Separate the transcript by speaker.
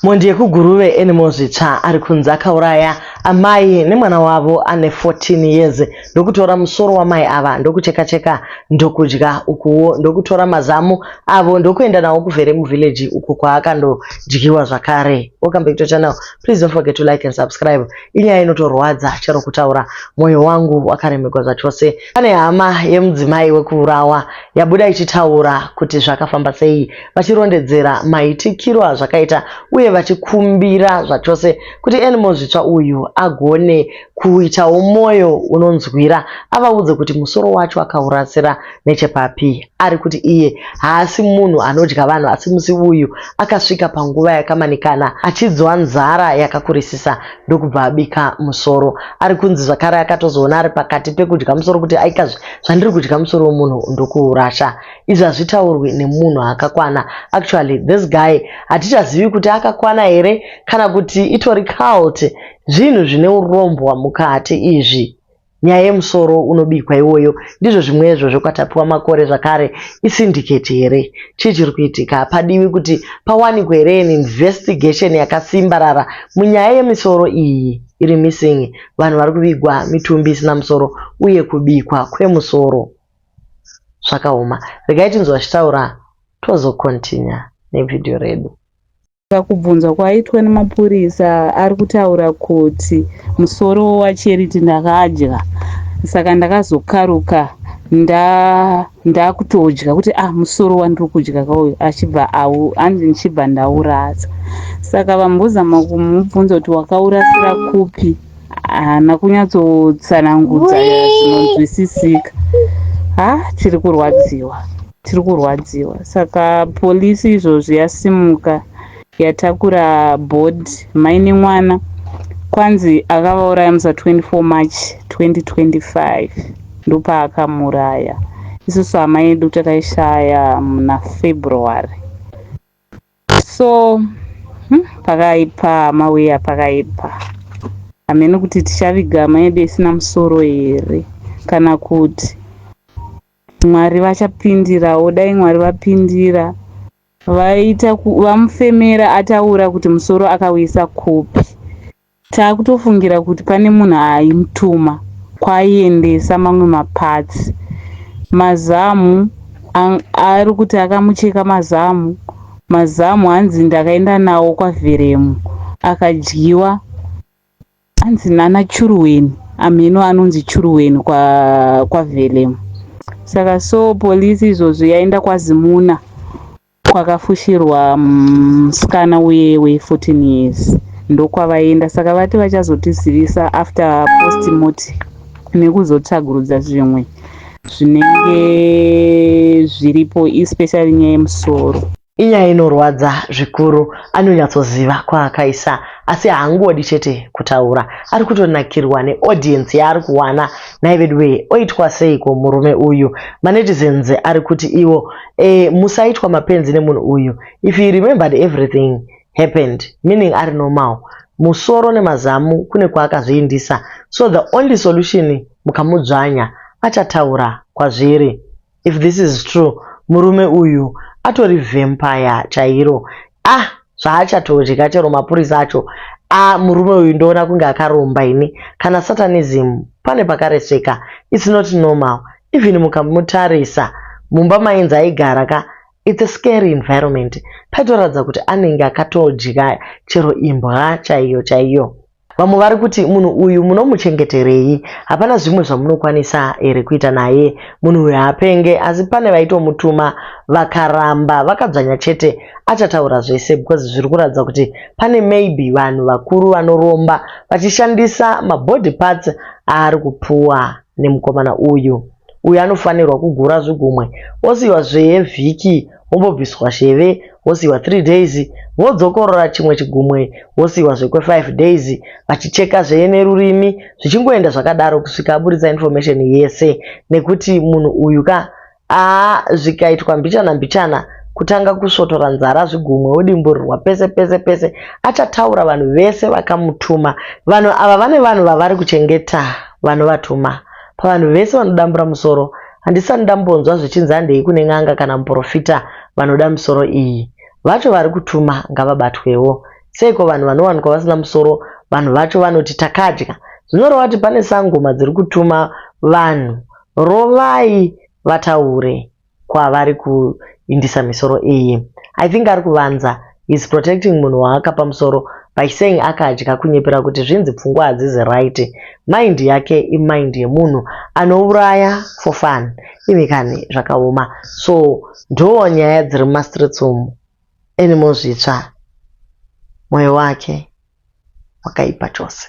Speaker 1: Mhondi yekuGuruve Anymore Zvitsva ari kunzi akauraya amai nemwana wavo ane 14 years ndokutora musoro wamai ava ndokuchekacheka ndokudya ukuwo ndokutora mazamu avo ndokuenda nawo kuvhere muvillage uko kwaakandodyiwa zvakare. Welcome back to channel. Please don't forget to like and subscribe. Inyaya inotorwadza chero kutaura moyo wangu wakaremegwa zvachose. Pane hama yemudzimai wekuurawa yabuda ichitaura kuti zvakafamba sei vachirondedzera maitikiro azvakaita uye vachikumbira zvachose kuti Animo Zvitsva uyu agone kuitawo mwoyo unonzwira avaudze kuti musoro wacho akaurasira nechepapi ari kuti iye haasi munhu anodya vanhu asi musi uyu akasvika panguva yakamanikana achinzwa nzara yakakurisisa ndokubva abika musoro ari kunzi zvakare akatozoona ari pakati pekudya musoro kuti aikazve zvandiri kudya musoro wemunhu ndokuurasha izvi hazvitaurwi nemunhu akakwana actually this guy hatichazivi kuti akakwana here kana kuti itori cult zvinhu zvine urombwa mukati izvi nyaya yemusoro unobikwa iwoyo ndizvo zvimwezvo zvokwatapiwa makore zvakare isindiketi here chii chiri kuitika padiwi kuti pawanikwe here an investigation yakasimbarara munyaya yemisoro iyi iri missing vanhu vari kuvigwa mitumbi isina musoro uye kubikwa kwemusoro zvakaoma regai tinzwe vachitaura tozo continue nevideo redu pakubvunzwa
Speaker 2: kwaitwa nemapurisa ari kutaura kuti musoro wacharity ndakadya saka ndakazokaruka ndakutodya kuti ah musoro wandiri kudya kauyu achibva hanzi ndichibva ndaurasa saka vambozama kumubvunza kuti wakaurasira kupi haana kunyatsotsanangudza ya zvinonzwisisika ha tiri kurwadziwa tiri kurwadziwa saka polisi izvozvi yasimuka yatakura board mai nemwana kwanzi akavauraya musa 24 march 2025 ndopaakamuraya isusu hama yedu takaishaya muna february So hmm, pakaipa mauya pakaipa. Hameno kuti tichaviga hama yedu isina musoro here kana kuti Mwari vachapindirawo. Dai Mwari vapindira vaita vamufemera ataura kuti musoro akauyisa kupi. Takutofungira kuti pane munhu aimutuma kwaaiendesa mamwe maparts. Mazamu ari kuti akamucheka mazamu. Mazamu hanzi ndakaenda nawo kwaVheremu akadyiwa hanzi nana Churuweni amheno anonzi Churuweni kwa kwaVheremu. Saka so police izvozvi yaenda kwaZimuna kwakafushirwa musikana uye we 14 years ndokwavaenda saka vati vachazotizivisa after postmortem nekuzotsvagurudza zvimwe zvinenge zviripo especially nyaya yemusoro inyaya inorwadza
Speaker 1: zvikuru anonyatsoziva kwaakaisa asi haangodi chete kutaura ari kutonakirwa neaudience yaari kuwana nhai veduwee oitwa seiko murume uyu manetizens ari kuti iwo eh, musaitwa mapenzi nemunhu uyu if he remembered everything happened meaning ari normal musoro nemazamu kune kwaakazviindisa so the only solution mukamudzvanya achataura kwazviri if this is true murume uyu atori vempire chairo Ah zvaachatodya chero mapurisa acho ah murume uyu ndoona kunge akaromba ini kana satanism pane pakaresveka it's not normal even mukamutarisa mumba mainzi aigara ka it's a scary environment paitoratidza kuti anenge akatodya chero imbwa chaiyo chaiyo Vamwe vari kuti munhu uyu munomuchengeterei? Hapana zvimwe zvamunokwanisa here kuita naye? Munhu uyu haapenge asi pane vaitomutuma vakaramba vakadzvanya chete achataura zvese because zviri kuratidza kuti pane maybe vanhu vakuru vanoromba vachishandisa mabody parts aari kupuwa nemukomana uyu. uyo anofanirwa kugura zvigumwe osiiwa zvee vhiki wombobviswa sheve wosiiwa 3 days wodzokorora chimwe chigumwe wosiiwa zvekwe 5 days vachicheka zvee nerurimi zvichingoenda zvakadaro kusvika aburitsa information yese nekuti munhu uyu ka aa zvikaitwa mbichana mbichana kutanga kusvotora nzara zvigumwe wodimburirwa pese pese pese achataura vanhu vese vakamutuma vanhu ava vane vanhu vavari kuchengeta vanovatuma Pavanhu vese vanodambura musoro, handisati ndambonzwa zvichinzi handei kune n'anga kana muporofita vanoda misoro iyi. Vacho vari kutuma ngavabatwewo. Seiko vanhu vanowanikwa vasina musoro vanhu vacho vanoti takadya? Zvinoreva kuti pane sangoma dziri kutuma vanhu. Rovai vataure. kwavari kuindisa misoro iyi I think ari kuvanza is protecting munhu waakapa musoro by saying akadya kunyepera kuti zvinzi pfungwa hadzizi right mind yake imind yemunhu anouraya for fun imi kani zvakaoma so ndoo nyaya dziri mumastreets umu enimo zvitsva mwoyo wake wakaipa chose